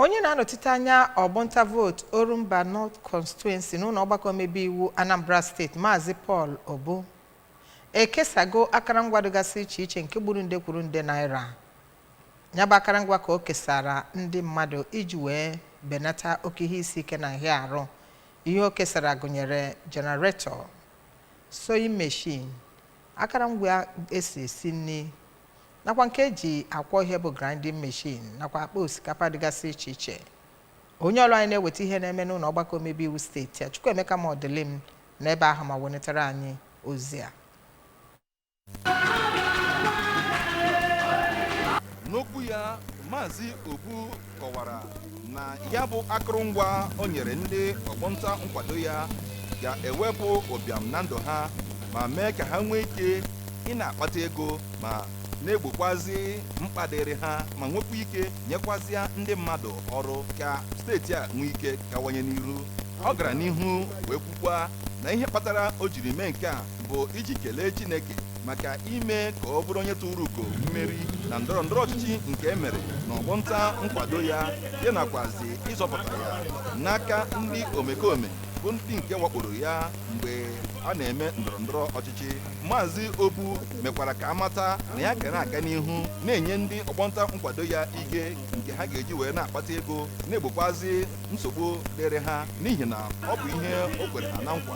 Onye na-anọchite anya ọgbọnta vootu Orumba North Constituency n'ụlọ ọgbakọ omebe iwu Anambra steeti Maazị Paul Obu ekesago akarangwa dịgasị iche iche nke gburu nde kwuru nde naira. Ya bụ akarangwa ka o kesara ndị mmadụ iji wee benata oke ihe isi ike na nhịa arụ. Ihe o kesara gụnyere generator, sewing machine, akarangwa esi esi nri nakwa nke eji akwọ ihe bụ grinding machine nakwa akpa osikapa dịgasị iche iche onye ọrụ anyị na-eweta ihe na-eme n'ụlọ ọgbakọ omebe iwu steeti a Chukwuemeka Modilim nọ ebe ahụ ma welitere anyị ozi a n'okwu ya maazị Obu kọwara na ya bụ akụrụngwa o nyere ndị ọgbọnta nkwado ya ga-ewepụ ụbịam na ndụ ha ma mee ka ha nwee ike ị na-akpata ego ma na-egbokwazi mkpa dịrị ha ma nwekwa ike nyekwazịa ndị mmadụ ọrụ ka steeti a nwee ike gawanye n'ihu ọ gara n'ihu wee kwukwa na ihe kpatara o jiri mee nke a bụ iji kelee Chineke maka ime ka ọ bụrụ onye turu ugo mmeri na ndọrọ ndọrọ ọchịchị nke e mere n'ọgbọnta nkwado ya ya nakwazi ịzọpụta ya n'aka ndị omekome bụ ndị nke wakporo ya mgbe a na-eme ndọrọ ndọrọ ọchịchị maazị Obu mekwara ka a mata na ya ga na-aga n'ihu na-enye ndị ọgbọnta nkwado ya ike nke ha ga-eji wee na-akpata ego na-egbokwazi nsogbu dịrị ha n'ihi na ọ bụ ihe o kwere ha na nkwa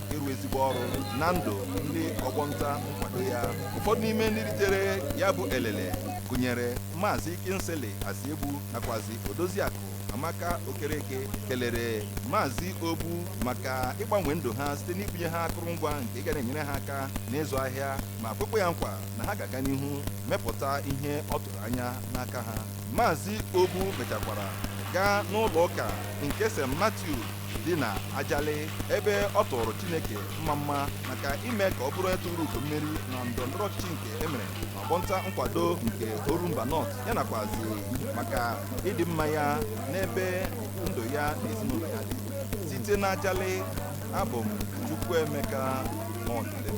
ịrụ ezigbo ọrụ na ndụ ndị ọgbọnta nkwado ya ụfọdụ n'ime ndị ritere ya bụ elele gụnyere maazị Kingsley Asiegbu nakwazi odoziakụ Amaka Okereke kelere maazị Obu maka ịgbanwe ndụ ha site n'ibunye ha akụrụngwa nke ga na-enyere ha aka n'ịzụ ahịa ma kwekwa ya nkwa na ha ga-aga n'ihu mepụta ihe ọ tụrụ anya n'aka ha maazị Obu mechakwara gaa n'ụlọ ụka nke St Matthew dị na Ajali ebe ọ tụọrọ Chineke mmamma maka ime ka ọ bụrụ onye turu ugo mmeri na ndọrọndọrọ ọchịchị nke e mere n'ọgbọnta nkwado nke Orumba North ya nakwazi maka ịdị mma ya n'ebe ndụ ya na ezinụlọ ya dị site na Ajali abụ m Chukwuemeka Modilim